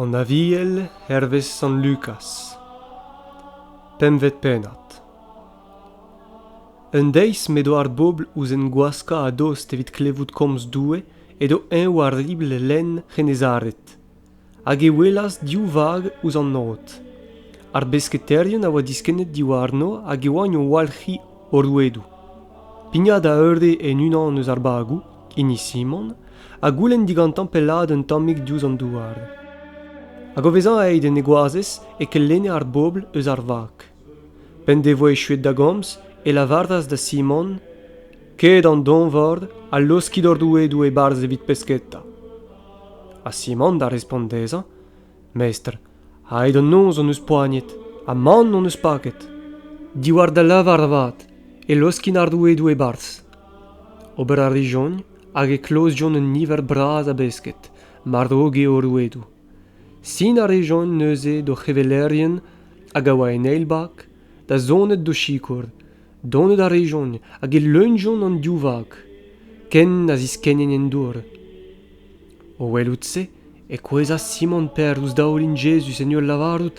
An Aviel hervez Sant Lukaz Pempvet pennad Un deiz m'edo ar bobl ouzh en gwaskañ a-dost evit klevout komz Doue edo eñ war ribl lenn C'hennezaret. hag e welas div vag ouzh an aod. Ar besketaerien a oa diskennet diwarno hag e oant o walc'hiñ o rouedoù. Pignat a eure en unan eus ar bagoù, hini Simon, ha goulenn digantañ pellaat un tammig diouzh an douar. Hag o vezañ aet en e goazez e kellenne ar bobl eus ar vag. P'en devoa echuet da gomz, e lavaras da Simon Ket an donvor ha laoskit hor rouedoù e-barzh evit pesketa. Ha Simon da respont dezhañ Mestr, aet an noz hon eus poagnet, ha mann hon eus paket. Diwar da lavar avat e laoskin ar rouedoù e-barzh. Ober a rijont hag e klozjont un niver bras a besked, mar ro eo o rouedoù. Sinañ a rejont neuze d'o c'hevelerien hag a oa en eil bak da zonet d'o sikour. Donet a rejont hag e leunjont an div vag, ken na ziskennent en dour. O welout-se e kouezhas Simon Per ouzh daoulin Jezuz en ul lavarout,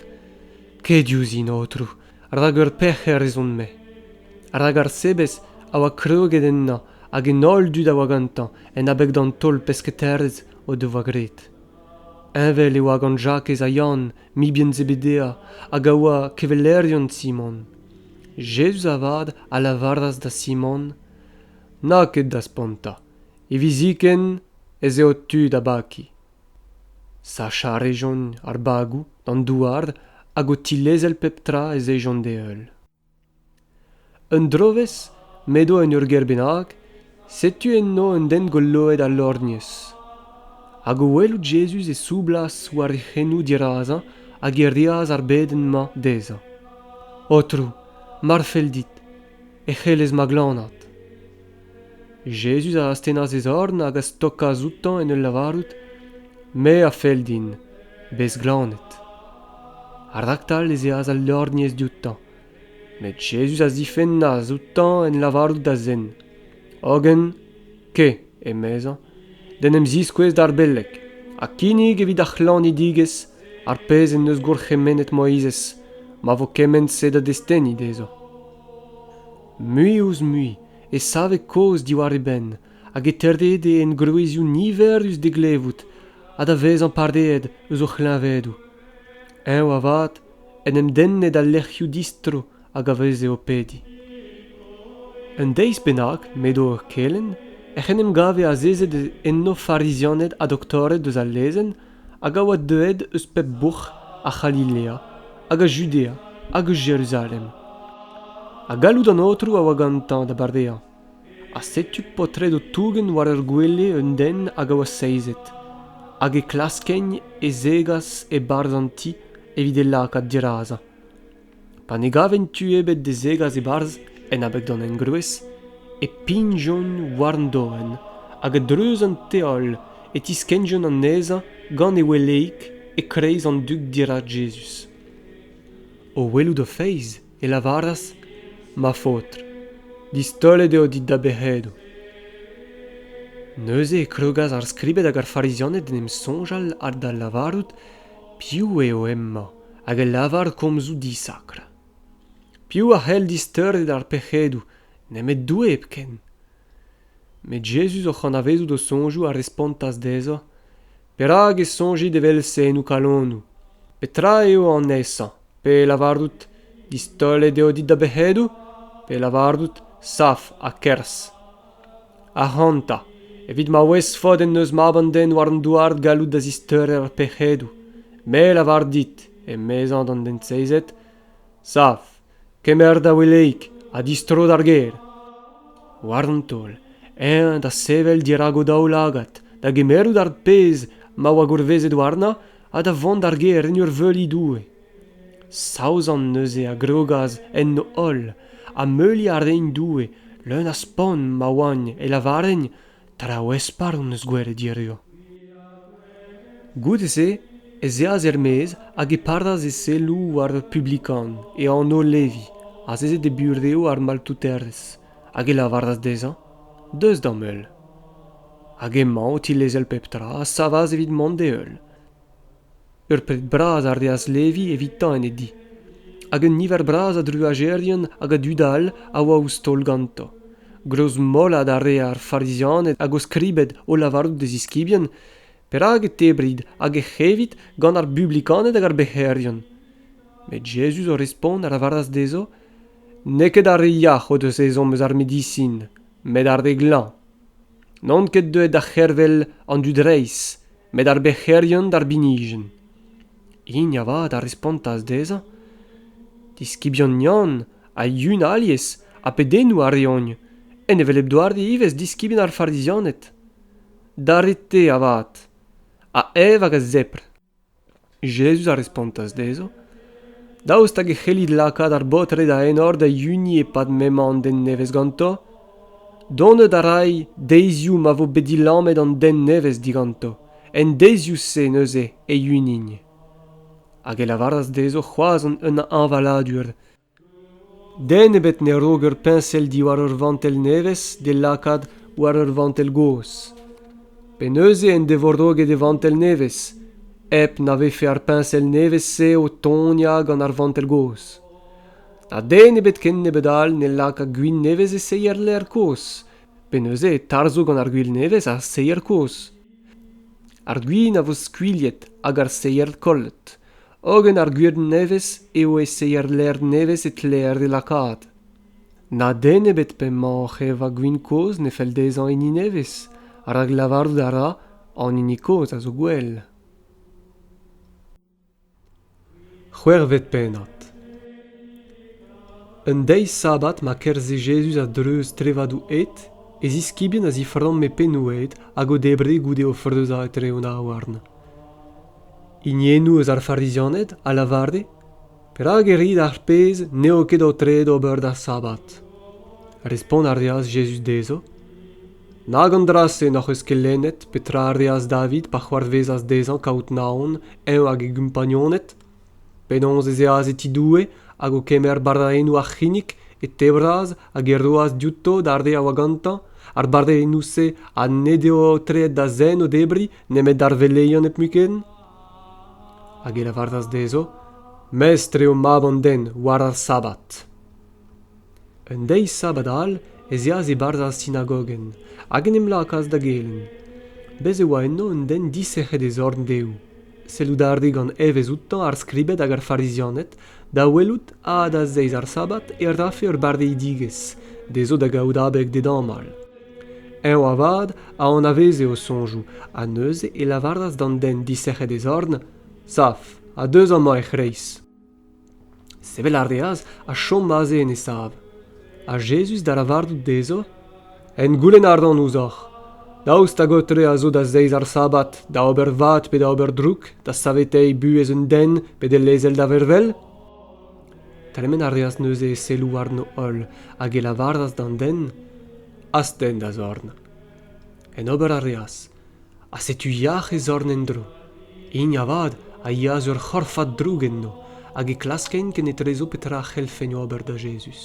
Ket diouzhin, Aotrou, rak ur pec'her ez on-me. Rak ar sebez a oa kroget ennañ hag an holl dud a oa gantañ en abeg d'an taol pesketaerezh o devoa graet. Heñvel e oa gant Jakez ha Yann, mibien Zebedea, hag a oa kevelerion Simon. Jezuz avat a lavaras da Simon, Na ket da spontañ. Hiviziken ez eo tu da bakiñ. Sachañ a rejont ar bagoù d'an douar hag o tilezel pep tra ez ejont d'e heul. Un drovezh m'edo en ur gêr bennak setu enno un den goloet ha lorgnez hag o welout Jezuz e soublas war e c'henou dirazañ hag e reas ar bedenn-mañ dezhañ Aotrou mar fell dit e c'hellez ma glanat Jezuz a astennas e zorn hag a stokas outañ en ul lavarout, Me a fell din, bez glanet. Raktal ez eas al lorgnez dioutañ, met Jezuz a zifennas outañ en lavarout da zen, hogen ke, emezañ, d'en em ziskouez d'ar beleg, ha kinnig evit ar c'hlannidigezh ar pezh en deus gourc'hemennet Moizez, ma vo kement-se da destenniñ dezhañ. mui-ouzh-mui e save kaoz diwar e benn hag e teurrede engroezioù niverus d'e glevout ha da vezañ pareet eus o c'hleñvedoù. Eñ avat en em denne d'al lec'hioù distro hag a veze o pediñ. Un deiz bennak m'edo o kelenn ec'h en em gave azezet enno farizianed ha doktored eus al lezenn hag a oa deuet eus pep bouc'h a C'halilea, hag a Judea, hag eus Jeruzalem. Ha galloud an Aotrou a oa gantañ da bardeañ. Ha setu paotred o tougen war ur gwele un den hag a oa seizet, hag e klaskent e zegas e-barzh an ti evit e lakaat dirazañ. Pa ne gaven tu ebet da zegas e-barzh en abeg d'an engroez e pignjont war an doenn hag a-dreuz an teol e tiskennjont anezhañ gant e weleig e-kreiz an dug dirak Jezuz. O welout o feiz e lavaras, Ma faotr, distaolet eo dit da bec'hedoù. Neuze e krogas ar skribed hag ar Farizianed d'en em soñjal ha da lavarout piv eo hemañ. hag e lavar komzoù disakr. Piv a c'hell disteuret ar pec'hedoù, nemet Doue hepken? Met Jezuz, oc'h anavezout o soñjoù, a respontas dezhañ, Perak e soñjit evel-se en ho kalonoù? Petra eo anezhañ? Pe lavarout, Distaolet eo dit da bec'hedoù? Pe lavarout, Saf ha kerzh? Ac'hanta, evit ma ouez faot en deus mab an den war an douar gallout da zisteurer ar pec'hedoù, me a lavar dit, emezañ d'an den seizet, sav, kemer da weleig ha distro d'ar gêr. War an taol, eñ da sevel dirak o daoulagad, da gemerout ar pezh ma oa gourvezet warnañ ha da vont d'ar gêr en ur veuliñ Doue. Saozon neuze a grogas enno holl ha meuliñ a reint Doue leun a spont ma oaint e lavarent traoù espar hon eus gwelet hiziv. Goude-se ez eas er-maez hag e padas e selloù war ur publikan, e anv Levi, azezet e burev ar maltouterez, hag e lavaras dezhañ Deus d'am heul. Hag emañ o tilezel pep tra a savas evit mont d'e heul. Ur pep bras a reas Levi evitañ en e di, hag un niver bras a druajerien hag a dud all a oa ouzh taol ganto. Greuz-mollad a rae ar Farizianed hag o skribed o lavarout d'e ziskibien perak e tebrit hag ec'h evit gant ar Publikaned hag ar bec'herien. Met Jezuz o respont a lavaras dezho, N'eo ket ar re yac'h o deus ezhomm eus ar medisin, met ar re glañv. N'on ket deuet da c'hervel an dud reizh met ar bec'herion d'ar binijenn. Hini avat a respontas dezhañ Diskibion Yann ha Yun alies ha pedennoù a reont, en hevelep doare ivez diskibien ar Farizianed. D'ar re-te avat, a-ev hag a-zepr. Jezuz a respontas dezhañ, Daoust hag e c'hellit lakaat ar baotred a-enor da hini e-pad m'emañ an den nevez ganto? Donet a ray deizioù ma vo bet dilammet an den nevez diganto, en deizioù-se neuze e-unin. Hag e lavaras dezho c'hoazh un hañvaladur. Den ebet ne-raok ur peñsel diwar ur vantell nevez d'e lakaat war ur vantell gozh. Pe neuze en devo roget e vantell nevez, hep na vefe ar peñsel nevez-se o toniañ gant ar vantell gozh. Ha den ebet ken nebeut all ne laka gwin nevez e seier ler kozh, pe neuze e tarzho gant ar gwil nevez ar seier kozh. Ar gwin a vo skuilhet hag ar seier kollet, Hogen ar gwir nevez eo e seier lec'h nevez e tleer e lakaat. Na den ebet p'emaoc'h eva gwin kozh ne fell dezhañ hini nevez, rak lavarout a ra an hini kozh a zo gwell. C'hwec'hvet pennad Un deiz sabbat ma kerzhe Jezuz a-dreuz trevadoù ed, e ziskibien a ziframme pennoù ed hag o debre goude o freuzañ etre o daouarn. hiniennoù eus ar Farizianed a lavare perak e rit ar pezh n'eo ket aotreet ober d'ar sabbat respont a reas Jezuz dezho nag an dra-se n'hoc'h eus ket lennet petra a reas David pa c'hoarvezas dezhañ kaout Naon eñ hag e gompagnoned Penaos ez eas e ti Doue hag o kemer bardaennoù ar c'hinnig, e tebras hag e roas diouto d'ar re a oa gantañ. Ar bardaennoù-se ha ned eo aotreet da zen o debriñ nemet d'ar veleion hepmuiken? Hag e lavaras dezho, Mestr eo mab an den, war ar sabbat. Un deiz sabad all ez eas e-barzh ar sinagogenn hag en em lakaas da gelenn. Bez' e oa enno un den disec'het e zorn dehoù. Sellout a rae gant evezh outañ ar skribed hag ar Farizianed da welout ha da zeiz ar sabad e rafe ur barreidigezh dezho da gaout abeg d'e damall. Eñ avat a anaveze o soñjoù ha neuze e lavaras d'an den disec'het e zorn Saf, ha deus amañ er c'hreiz. Sevel a reas ha chom aze en e sav. Ha Jezuz da lavarout dezho, En goulenn a ran ouzhoc'h, daoust hag ho-tre a zo da zeiz ar sabbat da ober vad pe da ober droug, da saveteiñ buhez un den pe d'e lezel da vervel? Tremen a reas neuze e selloù warno-holl hag e lavaras d'an den, Astenn da zorn. En ober a reas. ha setu yac'h e zorn en-dro hini avat a yeas ur c'horfad droug enno hag e klaskeint kenetrezo petra a c'hellfent ober da Jezuz.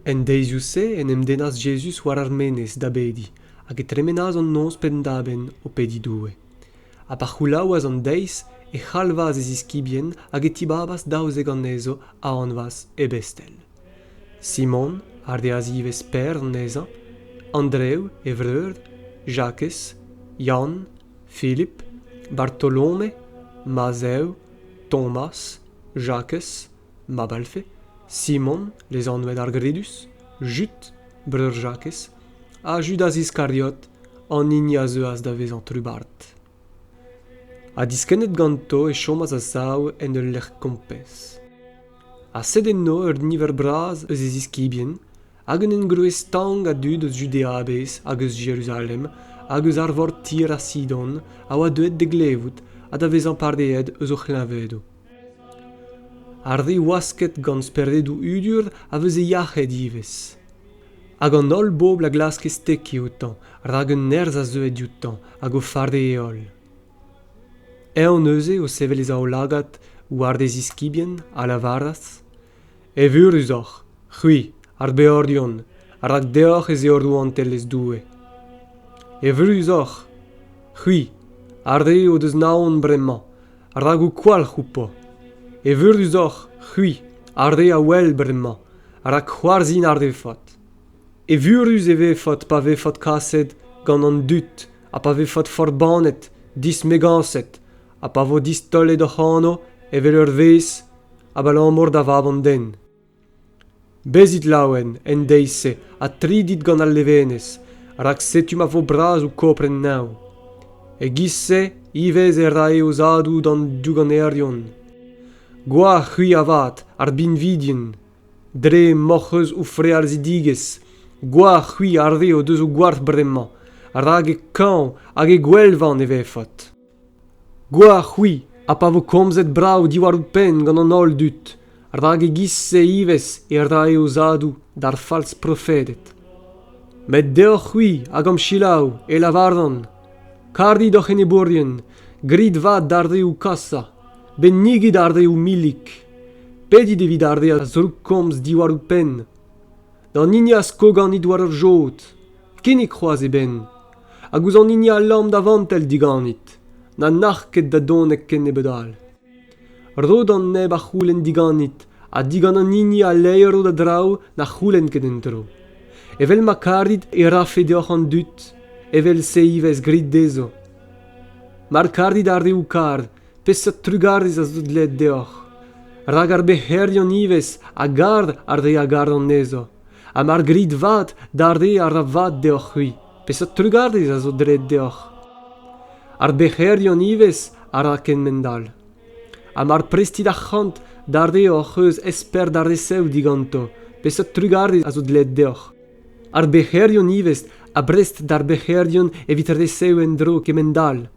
En deizioù-se en em dennas Jezuz war ar menez da bediñ hag e tremenas an noz penn-da-benn o pediñ Doue. Ha pa c'houlaouas an deiz e c'halvas e ziskibien hag e tibabas daouzek anezho a anvas Ebestel. Simon a reas ivez Per anezhañ, Andrev e vreur, Jakez, Yann, Filip, Bartolome, Mazev, Tomas, Jakez, mab Alfe, Simon, lezanvet ar Gredus, Jud, breur Jakez, ha Judas Iskariot, an hini a zeuas da vezañ trubard. Ha diskennet ganto e chomas a-sav en ul lec'h kompez. ha sed enno ur niver bras eus e ziskibien hag un engroez stank a dud eus Judea a-bezh hag eus Jeruzalem hag eus arvor tir ha Sidon a oa deuet da glevout ha da vezañ pareet eus o c'hleñvedoù. Ar re wasket gant speredoù udur a veze yac'hed ivez. Hag an holl bobl a glaske stekiñ outañ, rak un nerzh a zeue dioutañ hag o fare e holl. Eñ neuze, o sevel e zaoulagad war e ziskibien, a lavaras: Evurusoc'h, c'hwi, ar beordion, rak deoc'h ez eo Rouantelezh Doue. Evurusoc'h, c'hwi, ar re o deus naon bremañ, rak ho kwalc'h outo. Evurusoc'h, c'hwi, ar re a wel bremañ, rak c'hoarzhin a refot. Evurus e vefot pa vefot kaset gant an dud ha pa vefot forbannet, dismegañset, ha pa vo distaolet hoc'h anv evel ur vezh, abalamour da Vab an den. Bezit laouen en deiz-se ha tridit gant al levenez, rak setu ma vo bras ho kopren nav. E-giz-se ivez e rae o zadoù d'an douganerion. Gwalc'h c'hwi avat ar binvidien, Dre m'hoc'h eus ho frealzidigezh, gwalc'h-c'hwi ar re o deus ho gwalc'h bremañ, rak e kañv hag e gwelvan e vefot. Gwalc'h-c'hwi ha pa vo komzet brav diwar ho penn gant an holl dud, rak e-giz-se ivez e rae o zadoù d'ar falz-profeded. Met deoc'h-c'hwi hag hom selaou e lavaran, karit hoc'h enebourien, grit vat d'ar re ho kasa, bennigit ar re ho milik. Pedit evit ar re a zroukkomz diwar ho penn. D'an hini a sko ganit war ur jod, kinnig c'hoazh e benn. Hag ouzh an hini a lamm da vantell diganit, na nac'h ket da donek kennebeut all. Ro d'an neb a c'houlenn diganit, ha digant an hini a leiro da draoù na c'houlenn ket en tro. Evel ma karit e rafe deoc'h an dud, evel-se ivez grit dezho. Mar karit ar reoù kar, Peseurt trugarez a zo dleet deoc'h ? Rak ar bec'herion ivez a gar ar re a gar anezho, ha mar grit vat d'ar re a ra vat deoc'h-c'hwi, peseurt trugarez a zo dleet deoc'h ? Ar bec'herion ivez a ra kement-all. Ha mar prestit arc'hant d'ar re hoc'h eus esper da resev diganto, peseurt trugarez a zo dleet deoc'h ? Ar bec'herion ivez a brest d'ar bec'herion evit resev en-dro kement-all.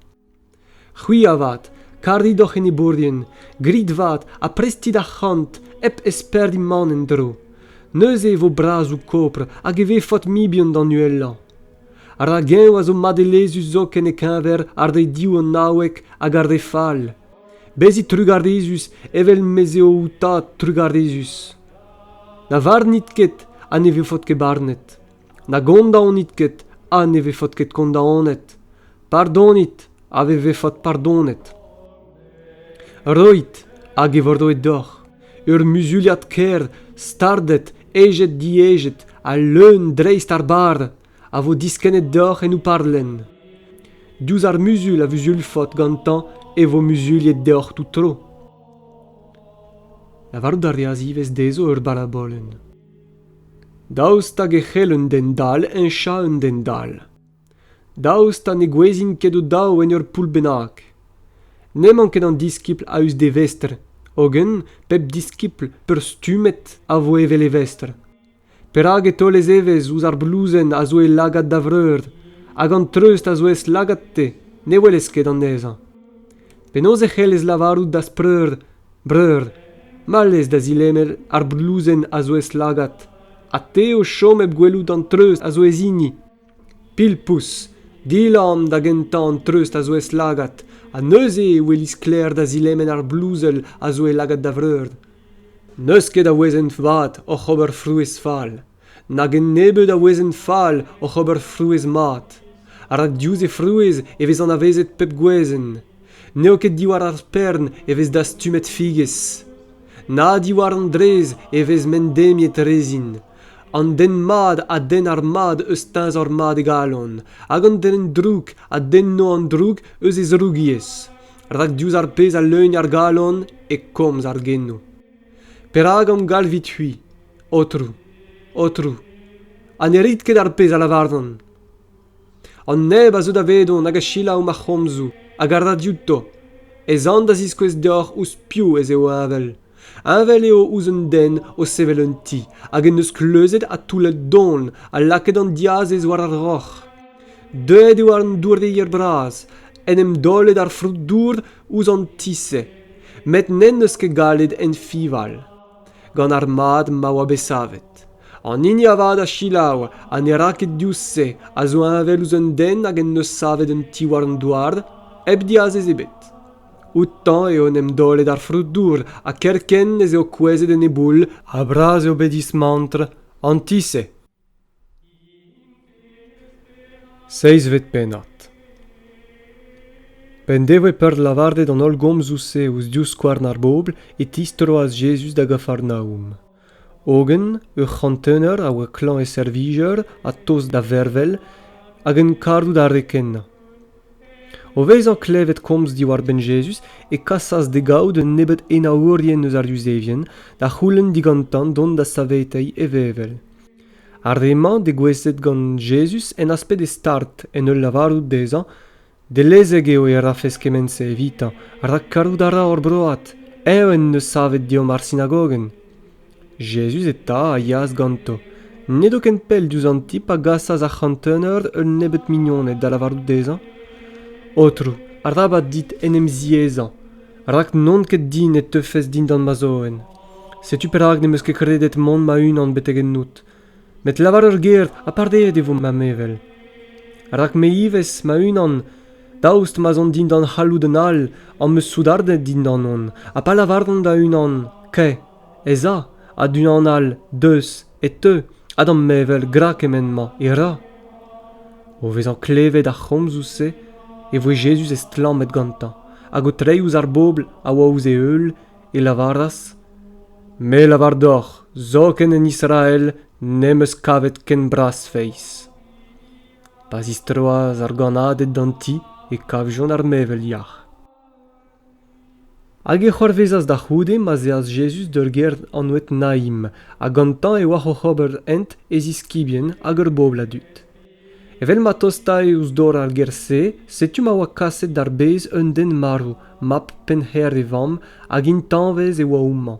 C'hwi avat, karit hoc'h enebourien, grit vat ha prestit arc'hant hep esperdiñ mann en-dro. Neuze e vo brazoù kopr hag e vefot mibien d'an uhelañ. Rak eñ a zo madelezhus zoken e-keñver ar re div anaouek hag ar re fall. Bezit trugarezus evel mez eo ho tad trugarezus. Na varnit ket ha ne vefot ket barnet. Na gondaonit ket, ha ne vefot ket kondaonet. Pardonit, ha ne vefot pardonet. Roit, hag e vo roet deoc'h ur muzuliad ker stardet, ejet-diejet ha leun dreist ar barr a vo diskennet deoc'h en ho parlenn. Diouzh ar muzul a vuzulfot gantañ e vo muzuliet deoc'h tout tro. Lavarout a reas ivez dezho ur barabolenn. Daoust hag e c'hell un den dall heñchañ un den dall? Daoust ha ne gouezhin ket o-daou en ur poull bennak? N'emañ ket an diskibl a-us d'e vestr, hogen pep diskibl peurstummet a vo evel e vestr. Perak e taol e zevezh ouzh ar blouzenn a zo e lagad da vreur, hag an treust a zo ez lagad-te ne welez ket anezhañ? Penaos e c'hellez lavarout d'az preur Breur, mallez da zilenner ar blouzenn a zo ez-lagad, ha te o chom hep gwelout an treust a zo ez hini. Pilpous, dilamm da gentañ an treust a zo ez-lagad, ha neuze e welis sklaer da zilemen ar blouzel a zo e lagad da vreur. N'eus ket a wezenn vat oc'h ober frouezh fall. nag un nebeud a wezenn fall oc'h ober frouezh mat rak diouzh he frouezh e vez anavezet pep gwezenn n'eo ket diwar ar spern e vez dastumet figez na diwar an drez e vez mendemiet rezin an den mat a denn ar mad eus teñzor mat e galon hag an den drouk a denno an droug eus e zrougiezh rak diouzh ar pezh a leugn ar galon e komz ar genoù Perak am galvit-c'hwi, Aotrou, Aotrou, ha ne rit ket ar pezh a lavaran? An neb a zeu davedon hag a selaou ma c'homzoù hag a ra diouto, ez an da ziskouez deoc'h ouzh piv ez eo heñvel. Heñvel eo ouzh un den o sevel un ti hag en deus kleuzet ha toullet don ha lakaet an diazez war ar roc'h. Deuet eo an doureier bras, en em daolet ar frot-dour ouzh an ti-se met n'en deus ket gallet enfival gant ar mad ma oa bet savet an hini avat a selaou ha ne ra ket diouzh se a zo heñvel ouzh un den hag en deus savet un ti war an douar hep diazez ebet outañ eo en em daolet ar frodour ha kerkent ez eo kouezhet en e boull ha bras eo bet dismantr an ti-se Seizhvet pennad P'en devoe peurt lavaret an holl gomzoù-se ouzh divskouarn ar bobl e tistroas Jezuz da Gafarnaoum. Hogen ur c'hantener a oa klañv e servijer ha tost da vervel hag en karout ar re kenañ. O vezañ klevet komz diwar-benn Jezuz e kasas d'e gavout un nebeud enaourien eus ar Yuzevien da c'houlenn digantañ dont da saveteiñ e vevel. Ar re-mañ degouezhet gant Jezuz en asped e start en ul lavarout dezhañ dellezek eo e rafes kement-se evitañ, rak karout a ra hor broad, eñ en deus savet deomp ar sinagogenn. Jezuz eta a yaas ganto. N'edo ken pell diouzh an ti pa gasas ar c'hanteneur un nebeud mignoned da lavarout dezhañ Aotrou, arabat dit en em ziaezañ, rak n'on ket din e teufes dindan ma zoenn. Setu perak n'em eus ket kredet mont ma-unan betek ennout. Met lavar ur ger ha pardeet e vo ma mevel. Rak me ivez, ma-unan, daoust ma'z on dindan c'halloud un all, am eus soudarded dindan on, ha pa lavaran da unan Kae, ez a a-du-an all deus e teu ha d'am mevel gra kement-mañ e ra o vezañ klevet ar c'homzoù-se e voe Jezuz estlammet gantañ hag o treiñ ouzh ar bobl a oa ouzh e heul e lavaras me lavar deoc'h zoken en Israel n'em eus kavet ken bras-feiz pa zistroas ar gannaded d'an ti e kavjont ar mevel yac'h Hag e c'hoarvezas da c'houde ma'z eas Jezuz d'ur gêr anvet Naim, ha gantañ e oac'h oc'h ober hent e ziskibien hag ur bobl a dud. Evel ma tostae ouzh dor ar gêr-se, setu ma oa kaset d'ar bez un den marv, mab pennhêr e vamm, hag intañvez e oa houmañ.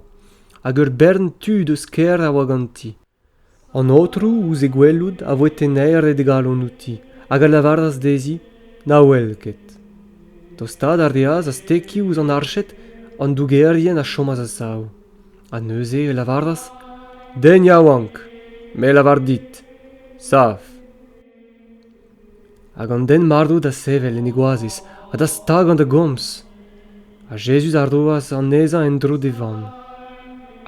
Hag ur bern tud eus kêr a oa ganti. An Aotrou, ouzh e gwelout, a voe tennaeret e galon outi, hag a lavaras dezhi na wel ket. Tostaat a reas aztekiñ ouzh an arched an dougerien a chomas a-sav, ha neuze e lavaras Den yaouank, me 'lavar dit, sav. hag an den-marv da sevel en e goazez ha da stagañ da gomz. Ha Jezuz a roas anezhañ en-dro d'e vamm.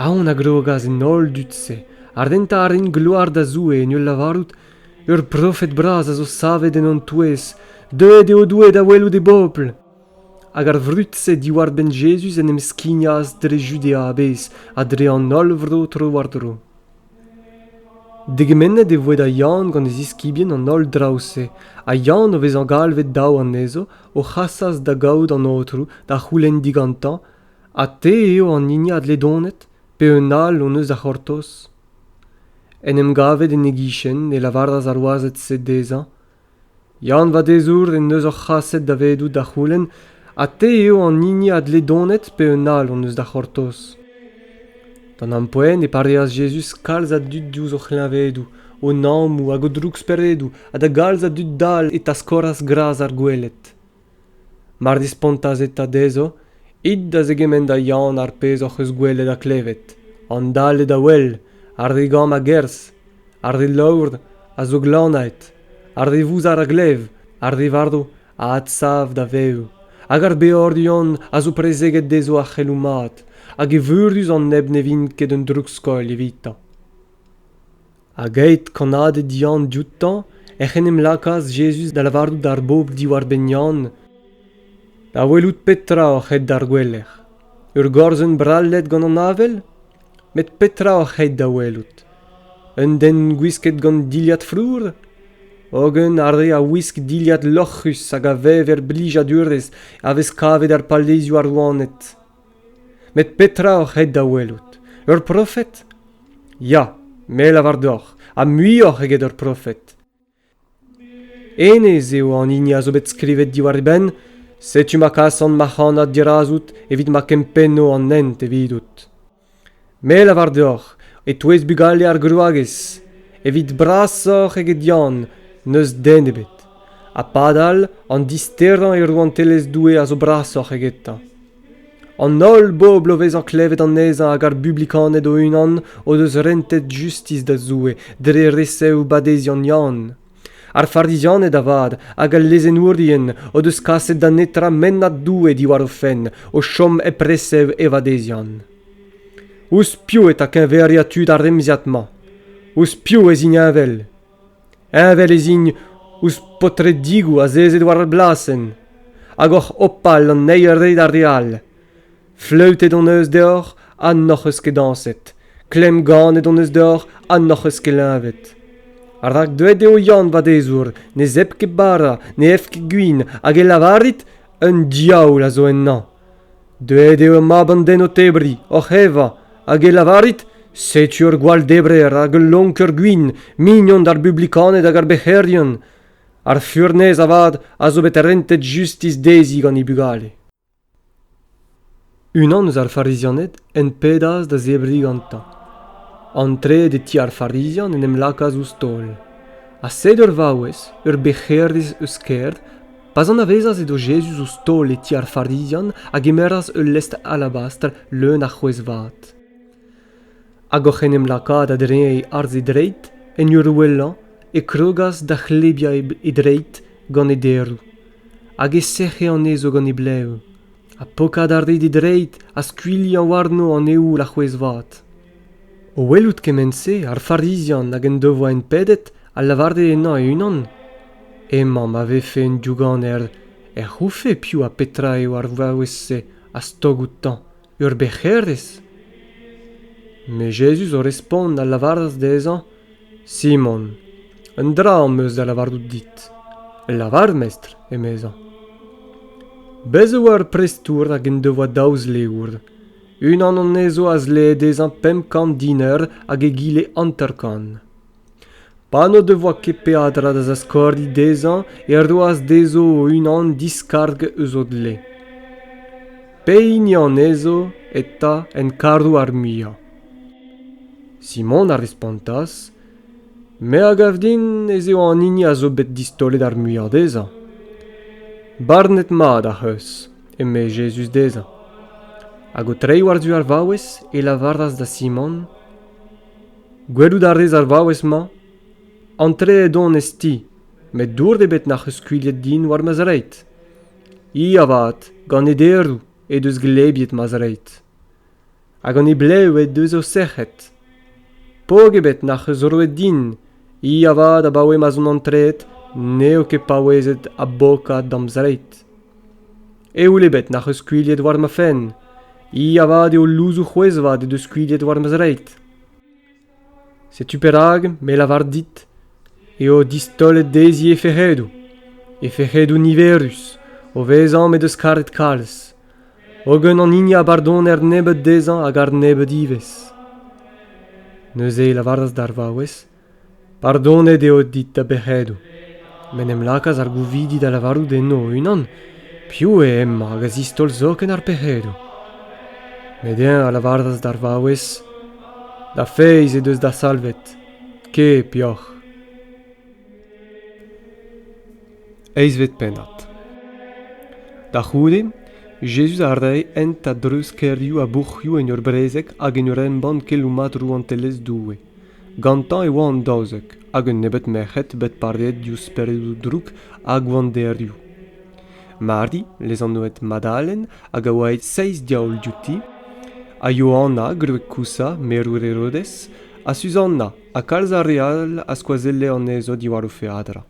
Aon a grogas en holl dud-se ha rentañ a rint gloar da Zoue en ul lavarout, Ur profed bras a zo savet en hon touez, deuet eo Doue da welout e bobl. Hag ar vrud-se diwar-benn Jezuz en em skignas dre Judea a-bezh ha dre an holl vro tro-war-dro. Degemennet e voe da Yann gant e ziskibien an holl draoù-se, ha Yann, o vezañ galvet daou anezho, o c'hasas da gaout an aotrou da c'houlenn digantañ ha te eo an hini a dledonet pe un all hon eus da c'hortoz. En em gavet en e gichen e lavaras ar wazed-se dezhañ Yann Vadezour en deus hor c'haset davedoù da c'houlenn ha te eo an hini a dle donet pe un all hon eus da c'hortoz. D'an ampoent e pareas Jezuz kalz a dud diouzh o c'hleñvedoù, o nammoù hag o drouksperedoù ha da galz a dud dall e taskoras gras ar gweled. mar dispontas eta dezho it da zegemenn da Yann ar pezh hoc'h eus gwelet ha klevet an dale da wel ar re gamm a-gerzh ar re laour a zo glanaet ar re vouzar a glev ar re varv a adsav da vev hag ar beorion a zo prezeget dezho ar c'heloù mat hag eveürus an neb ne vint ket un droukskoilh evitañ Hag aet kannaded Yann dioutañ, ec'h en em lakaas Jezuz da lavarout d'ar bobl diwar-benn Yann Da welout petra oc'h aet d'ar gouelec'h. Ur gorzenn brallet gant an avel? Met petra oc'h aet da welout? Un den gwisket gant dilhad flour? Hogen ar re a wisk dilhad loc'hus hag a vev er blijadurezh a vez kavet er palezioù ar rouaned. Met petra oc'h aet da welout ur profed? Ya, me lavar deoc'h, ha muioc'h eget ur profed. Hennezh eo an hini a zo bet skrivet diwar e benn, setu ma kasan ma c'hanad dirazout evit ma kempenno an hent evidout. Me a lavar deoc'h, e-touez bugale ar grouagez, evit brasoc'h eget Yann, n'eus den ebet. Ha padal, an disterañ e rouantelezh Doue a zo brasoc'h egetañ. An holl bobl o vezañ klevet anezhañ hag ar Bublikaned o-unan o deus rentet justis da Zoue dre resev badeziant Yann. ar farizianed avat hag al lezennourien o deus kaset da netra mennad Doue diwar o fenn o chom hep resev e vadeziant. Ouzh piv eta keñveriañ tud ar remziad-mañ? Ouzh piv ez int heñvel? Heñvel ez int ouzh paotredigoù azezet war ar blasenn, hag oc'h opal an eil re d'ar re all, Fleutet hon eus deoc'h ha n'hoc'h eus ket dañset. Klemm ganet hon eus deoc'h ha n'hoc'h eus ket leñvet. Rak deuet eo Yann Vadezour, ne zep ket bara, ne ev ket gwin, hag e lavarit un diaoul a zo ennañ. Deuet eo mab an den o tebriñ, oc'h evañ, hag e lavarit setu ur gwall-debrer hag ul lonker gwin, mignon d'ar bublikaned hag ar bec'herion. Ar furnez avat a zo bet rentet justis dezhi gant he bugale. Unan eus ar Farizianed hen pedas da zebriñ gantañ. Antreet e ti ar Farizian en em lakaas ouzh taol. Ha sed ur vaouez, ur bec'herez eus kêr, pa'z anavezas edo Jezuz ouzh taol e ti ar Farizian, a gemeras ul lestr alabastr leun a c'hwezh vat. Hag oc'h en em lakaat a-dreñv arz e dreid, en ur ouelañ, e krogas da c'hlebiañ e dreid gant e deroù, hag e sec'he anezho gant e blev, ha pokat a rit e dreid ha skuilhañ warno an eoul a-c'hwezh-vat. O welout kement-se, ar Farizian hag en devoa enpedet a lavare ennañ e-unan, Emañ ma vefe un diouganer, ec'h oufe piv ha petra eo ar vaouez-se a stog outañ ur bec'herez? Met Jezuz o respont a lavaras dezhañ, Simon, un dra am eus da lavarout dit. Lavar, mestr, emezañ. Bez' e oa ur prestour hag en devoa daou zleour. Unan anezho a zlee dezhañ pemp kant diner hag egile hanter-kant. Pa n'o devoa ket peadra da zaskordi dezhañ e roas dezho o-unan diskarg eus o dle. Pehini anezho eta en karro ar muiañ? Simon a respontas, Me a gav din ez eo an hini a zo bet distaolet ar muiañ dezhañ. Barnet-mat ac'h eus, eme Jezuz dezhañ. Hag o treiñ war-du ar vaouez, e lavaras da Simon, Gwelout a rez ar vaouez-mañ ? Antreet on ez ti, met dour ebet n'ac'h eus skuilhet din war ma zreid. I avat, gant e deroù, he deus glebiet ma zreid. Ha gant he blev he deus o sec'hed. Pok ebet n'ac'h eus roet din, i avat abaoe ma'z on antreet n'eo ket paouezet abokat da'm zreid. Eoul ebet n'ac'h eus skuilhet war ma fenn. I avat eo louzoù c'hwezh-vat he deus skuilhet war ma zreid. Setu perak me lavar dit eo distaolet dezhi he fec'hedoù, he fec'hedoù niverus, o vezañ m'he deus karet kalz, hogen an hini a bardoner nebeut dezhañ a gar nebeut ivez. Neuze e lavaras d'ar vaouez Pardonet eo dit da bec'hedoù. M'en em lakaas ar gouvidi da lavarout enno o-unan piv eo hemañ hag a zistaol zoken ar pec'hedoù. Met eñ a lavaras d'ar vaouez Da feiz he deus da salvet. Ket peoc'h. Eizvet pennad Da c'houde, Jezuz a rae hent a-dreuz kêrioù ha bourc'hioù en ur brezeg hag en ur embann keloù mat rouantelezh Doue. Gantañ e oa an daouzek hag un nebeud merc'hed bet pareet diouzh speredoù droug ha gwanderioù. Mari, lezanvet Madalen, hag a oa aet seizh diaoul diouti, ha Yohanna, gwreg Kousa, merour Herodez, ha Suzanna ha kalz a re all a skoazelle anezho diwar o feadra.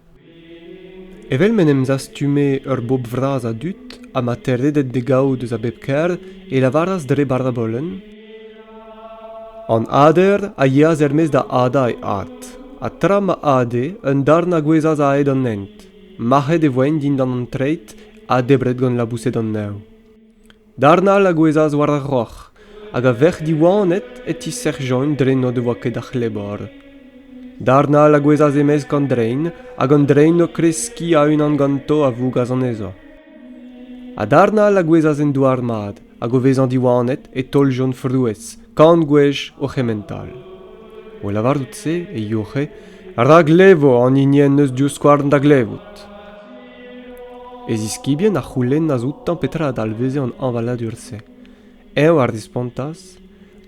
Evel m'en em zastume ur bobl vras a dud ha ma teredent d'e gavout eus a bep kêr e lavaras dre barabolenn An ader a yeas er-maez da hadañ e ard, ha tra ma ade, un darn a gouezhas a-hed an hent. Mac'het e voent dindan an treid ha debret gant laboused an neñv. Darn all a gouezhas war ar roc'h, hag a-vec'h diwanet e tisec'hjont dre n'o devoa ket a c'hlebor. Darn all a gouezhas e-mesk an drein, hag an drein o kreskiñ a-unan ganto a vougas anezho. Ha darn all a gouezhas en douar mat, hag o vezañ diwanet e taoljont frouezh, kant gwech o c'hementall. O lavarout se e youc'he, rak levo an hini en deus divskouarn da glevout. E ziskibien a c'houlennas outañ petra a dalveze an hañvaladur-se. Eñ a respontas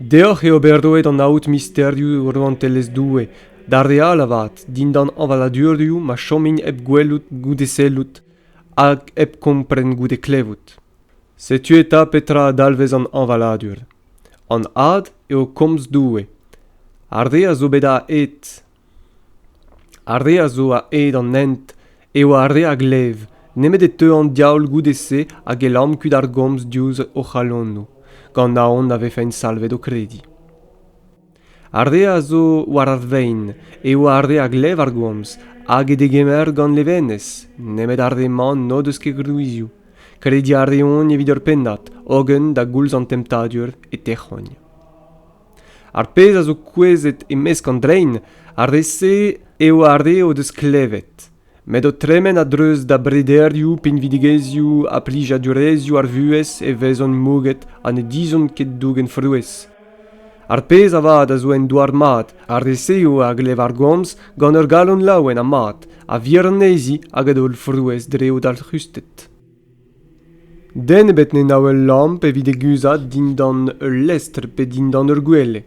Deoc'h eo bet roet an aod misterioù Rouantelezh Doue, d'ar re all avat, dindan hañvaladurioù ma chomint hep gwelout goude sellout hag hep kompren goude klevout. Setu eta petra a dalvez an hañvaladur. An ad eo komz Doue. Ar re a zo bet aet Ar re a zo a-hed an hent eo ar re a glev nemet e teu an diaoul goude-se hag e lamm kuit ar gomz diouzh o c'halonoù, gant aon na vefent salvet o krediñ. Ar re a zo war ar vein eo ar re a glev ar gomz hag e degemer gant levenez, nemet ar re-mañ n'o deus ket gwrizioù. Krediñ a reont evit ur pennad, hogen da goulz an temptadur e tec'hont. Ar pezh a zo kouezhet e-mesk an drein, ar re-se eo ar re o deus klevet, met o tremen a-dreuz da brederioù, pinvidigezhioù ha plijadurezhioù ar vuhez e vezont mouget ha ne dizhont ket dougen frouezh. Ar pezh avat a zo en douar mat, ar re-se eo a glev ar gomz gant ur galon laouen ha mat, a vir anezhi hag a daol frouezh dre o dalc'husted. Den ebet ne nav ul lamp evit e guzhat dindan ul lestr pe dindan ur gwele.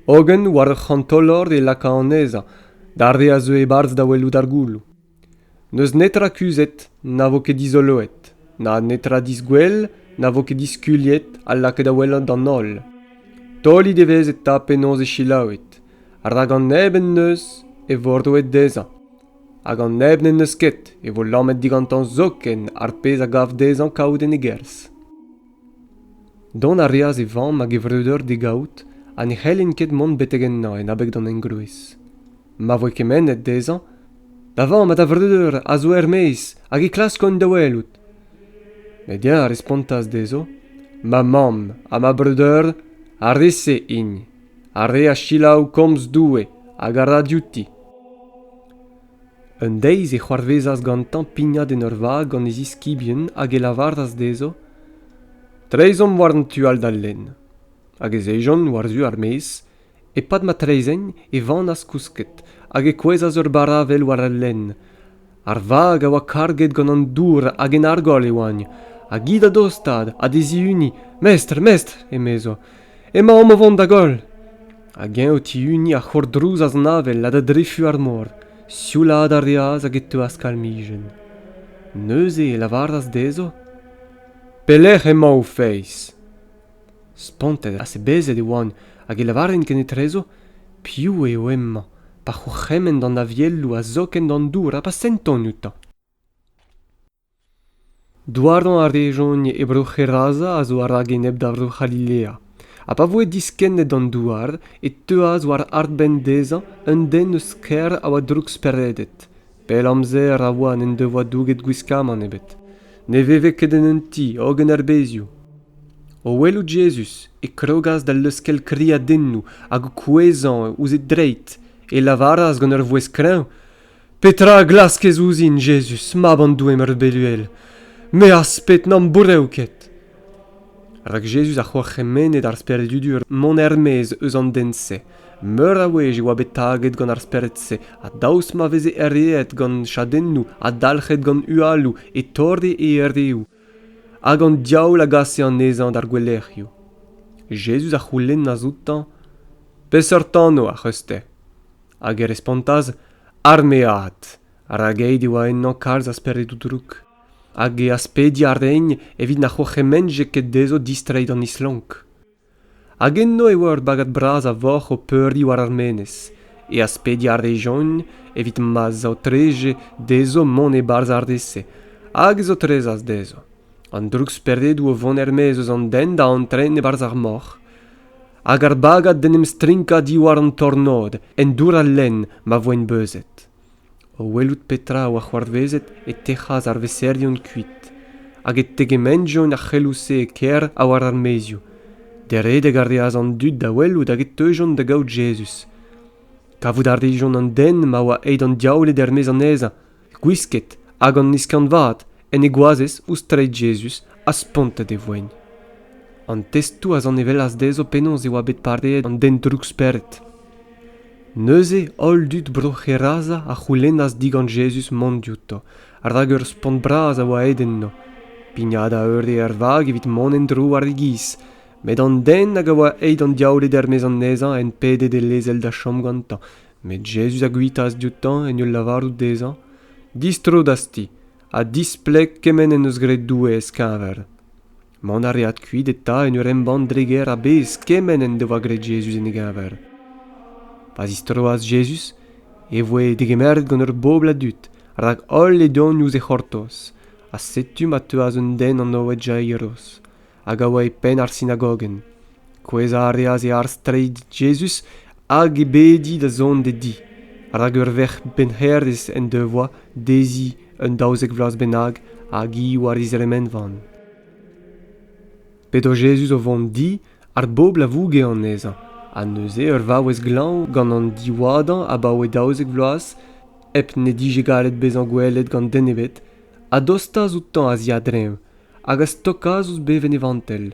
Hogen war ur c'hantolor e laka anezhañ d'ar re a zeu e-barzh da welout ar gouloù. N'eus netra kuzhet na vo ket dizoloet, na netra disgwell na vo ket diskuliet ha lakaet da welout d'an holl. Taolit evezh eta penaos eo selaouet, rak an neb en deus e vo roet dezhañ. hag an neb n'en deus ket e vo lammet digantañ zoken ar pezh a gav dezhañ kaout en e gerzh. Dont a reas e vamm hag e vreudeur d'e gaout ha ne c'hellent ket mont betek ennañ en abeg d'an engroez. Ma voe kemennet dezhañ, Da vamm ha da vreudeur a zo er-maez hag e klaskont da welout. Met eñ a respontas dezho Ma mamm ha ma breudeur a rese-int. ar re a selaou komz Doue hag a ra diouti. Un deiz e c'hoarvezas gantañ pignat en ur vag gant e ziskibien hag e lavaras dezho Treizhomp war an tu all d'al lenn. Hag ez ejont war-zu ar maez. E-pad ma treizhegn e vanas kousket hag e kouezhas ur baravel war al lenn ar vag a oa karget gant an dour hag en argoll e oagn hag hi da dostaat ha d'e zihuniñ mestr mestr emezo emaomp o vont da goll hag eñ o tihuniñ a c'hourdrouzas an avel ha da drefu ar mor sioulaat a reas hag e teuas kalmijenn neuze e lavaras dezho pelec'h emañ ho feiz Spontet ha sebezet e oan hag e lavaren kenetrezo piv eo hemañ pa c'hourc'hemenn d'an avielloù ha zoken d'an dour ha pa senton outañ. Douarañ a rejont e bro Gerasa a zo a-rak enep da vro C'halilea, ha pa voe diskennet d'an douar e teuas war arbenn dezhañ un den eus kêr a oa drouk-speredet. Pell amzer a oa n'en devoa douget gwiskamant ebet. Ne veve ket en un ti hogen er bezioù. O welout Jezuz e krogas da leuskel kriadennoù hag o kouezhañ ouzh e dreid, e lavaras gant ur vouezh kreñv Petra a glaskez ouzhin, Jezuz, mab an Doue meurbeluel? Me az pet n'am bourev ket. Rak Jezuz a c'hourc'hemenne d'ar Spered-Udur mont er-maez eus an den-se. Meur a wech e oa bet taget gant ar Spered-se, ha daoust ma veze erreet gant chadennoù ha dalc'het gant hualoù e torde e erreoù, hag an diaoul a gase anezhañ d'ar gouelec'hioù. Jezuz a c'houlennas outañ, Peseurt anv ac'h eus-te? Hag e respontas, Armead, rak aet e oa ennañ kalz a speredoù drouk. hag e aspediñ a raen evit na c'hourc'hemenje ket dezho distreiñ d'an islonk. Hag enno e oa ur bagad bras a voc'h o peuriñ war ar menez. E aspediñ a rejont evit ma zaotreje dezho mont e-barzh ar re-se, hag e zaotrezas dezho. An drouksperedoù o vont er-maez eus an den da antren e-barzh ar moc'h. Hag ar bagad d'en em strinkañ diwar an tornod, en dour al lenn, ma voent beuzet. O welout petra a oa c'hoarvezet e tec'has ar veserien kuit, hag e tegementjont ar c'heloù-se e kêr ha war ar maezioù. Deredek a reas an dud da welout hag e teujont da gaout Jezuz. Kavout a rijont an den ma oa aet an diaouled er-maez anezhañ, gwisket hag an iskanvaat, en e goazez ouzh treid Jezuz ha spontet e voen. An testoù a zanevellas dezho penaos e oa bet pareet an den drouk-spered. Neuze holl dud Bro-C'heraza a c'houlennas digant Jezuz mont diouto, rak ur spont bras a oa aet enno, pignat a eure er vag evit mont en-dro war e giz, met an den hag a oa aet an diaouled er-maez anezhañ hen pede d'e lezel da chom gantañ, met Jezuz a guitaas dioutañ en ul lavarout dezhañ, Distro d'az ti, ha displeg kement en deus graet Doue ez keñver. Mont a reas kuit eta en ur embann dre gêr a-bezh kement en devoa graet Jezuz en e geñver. Pa zistroas Jezuz e voe degemeret gant ur bobl a dud, rak holl e deuont ouzh e c'hortoz. Ha setu ma teuas un den anvet Jairos, hag a oa e penn ar sinagogenn. Kouezhañ a reas e arz-treid Jezuz hag e bedi da zont d'e di, rak ur verc'h pennhêrez en devoa dezhi un daouzek vloaz bennak hag hi war he zremenvan. P'edo Jezuz o vont di, ar bobl a vouge anezhañ, ha neuze ur vaouez glañv gant an diwadañ abaoe daouzek vloaz, hep n'he dije gallet bezañ gwelet gant den ebet, a dostas outañ a-ziadreñv hag a stokas ouzh bevenn e vantell.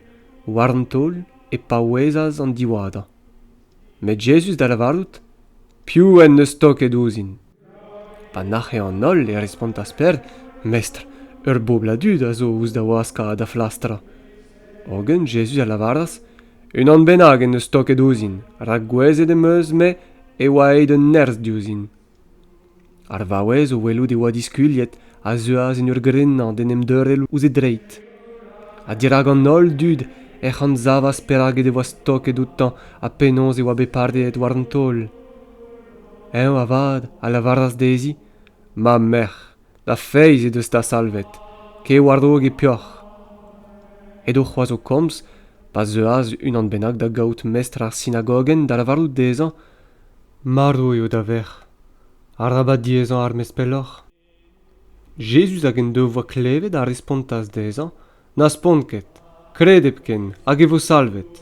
War an taol e paouezas an diwadañ. Met Jezuz da lavarout, Piv en deus toket ouzhin? Pa nac'he an holl e respontas Peder, Mestr, ur bobl a dud a zo ouzh da waskañ ha da flastrañ. Hogen Jezuz a lavaras, Unan bennak en deus toket ouzhin, rak gouezet em eus-me e oa aet un nerzh diouzhin. Ar vaouez o welout e oa diskuliet a zeuas en ur grenañ d'en em deurel ouzh e dreid. Ha dirak an holl dud ec'h anzavas perak he devoa stoket outañ ha penaos e oa bet pareet war an taol. Eñ avat a lavaras dezhi Ma merc'h, da feiz he deus ta salvet. Kae war-raok e peoc'h. Edo c'hoazh o komz pa zeuas unan bennak da gaout mestr ar sinagogenn da lavarout dezhañ Marv eo da verc'h. Arabat diezañ armes pelloc'h. Jezuz hag en devoa klevet a respontas dezhañ n'aspont ket, kred hepken hag e vo salvet.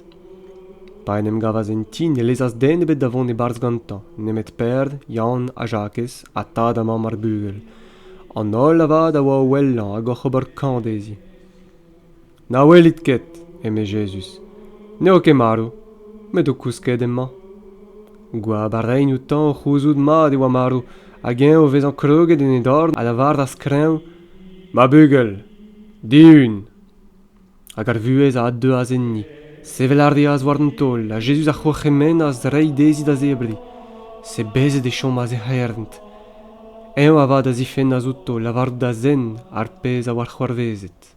Pa en em gavas en ti ne lezas den ebet da vont e-barzh gantañ, nemet Perd, Yann ha Jakez ha tad ha mamm ar bugel. An holl avat a oa o wellañ hag oc'h ober kañv dezhi. Na welit ket, eme Jezuz, n'eo ket marv, met o kousket emañ. Goab a raint outañ o c'houzout mat e oa marv, hag eñ o vezañ kroget en e dorn a lavaras kreñv, Ma bugel, dihun! Hag ar vuhez a addeuas enni. Sevel a reas war an taol, ha Jezuz a c'hourc'hemennas reiñ dezhi da zebriñ. Sebezet e chomas he c'herent. Eñ avat a zifennas outo lavarout da zen ar pezh a oa c'hoarvezet.